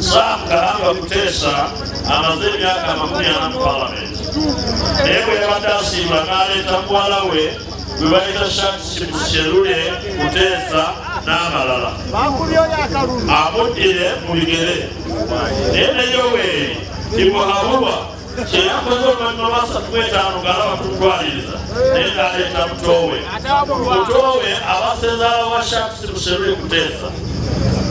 Sam Karanga Kutesa amaze emyaka amakumi ana mu palamenti naye bwe yabadde asiimula n'aleeta muwala we gwe bayita Shamsherule Kutesa n'abalala amuddire mu bigere naye ne Yoweri Timuhaburwa kyeyakoze oluvannyuma lwa satu gwetaano ng'alaba kutwaliriza naye ng'aleeta mutoowe mutoowe abasezaala wa shakusi musherule kuteesa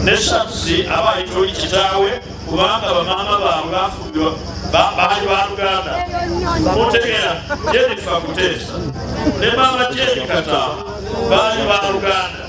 ne shakusi aba ayitoli kitaawe kubanga bamaama baabwe bafumbirwa baali ba luganda mutegeera jenifa kuteesa ne maama jeni kataama baali ba luganda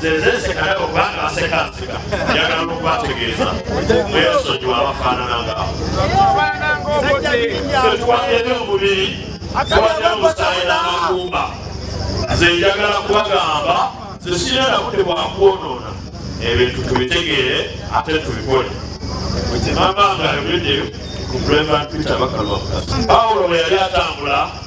zezese kadako kubanga asekanseka njagala nokubategeeza mwesonyiwa abafaanana ngaawo fetwagende omubiri twagenda omusaayi n'amagumba nze njagala kubagamba nze sirina nabude bwakwonoona ebintu tubitegeere ate tubikole mama nga ayogedde ku brevant peter bakalwamukasa pawulo bwe yali atambula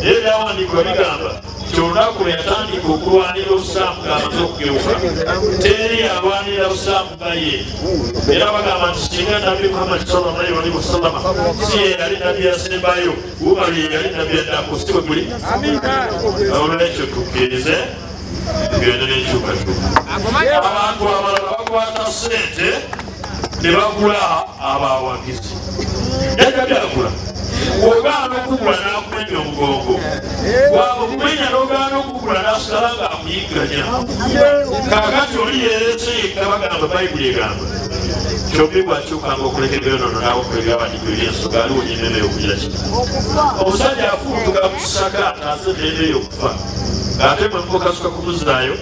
naye ebyawandiikibwa bigamba nti olunaku lwe yatandika okulwanira obusiraamu ng'amaze okugeuka teri yalwanirira busiraamu nga ye era bagamba nti singa nabbi muhammadi sallallahu alaihi wasallama si ye yali nabbi yasembayo umaru ye yali nabbi yaddako si bwe guli olwekyo tukkirize byonna n'enkyukakyuka abantu abalala bakwata ssente ne bagula abawagizi jajja byagula ogaana okugula nakumenya omugongo waba okumenya nogaana okugula nasigala nga akuyigganya kakati oli yerese yekka bagamba bayibuli egamba kyobbi bwakyukanga okulekegeyonono nawokulegeabadiko ebyensoga aliwo nyinene yokugira ki omusajja afuutuga kusaka ataase nene yokufa ng'ate mwe mukasuka kumuzaayo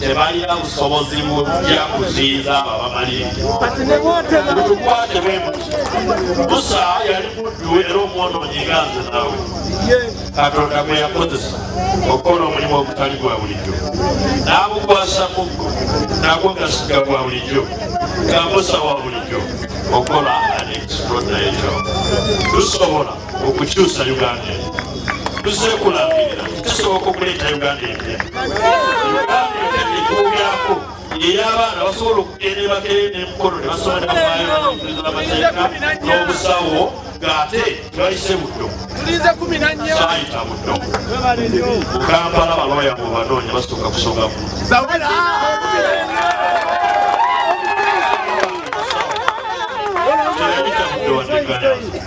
tebalina busobozi bujja kuziiza ababamalirimutukwate bwemuti musa yali muddu era omwonoonyi nga nze nawe katonda gwe yakozesa okukola omulimu ogutali gwa bulijjo n'amukwasa muggo nagwo gasiga gwa bulijjo nga musa wa bulijjo okukola an extraordinary job tusobola okukyusa uganda tuzekulambirira tusoboka okuleeta uganda empya uganda etekubyako eyabaana basobola okugenda ebakeyo nemukono nebasobola nebaayoamateeka n'obusawo ng'ate tebayise buddo saayita buddo mukampala balooya mu banoonya basooka kusonga mu Thank you.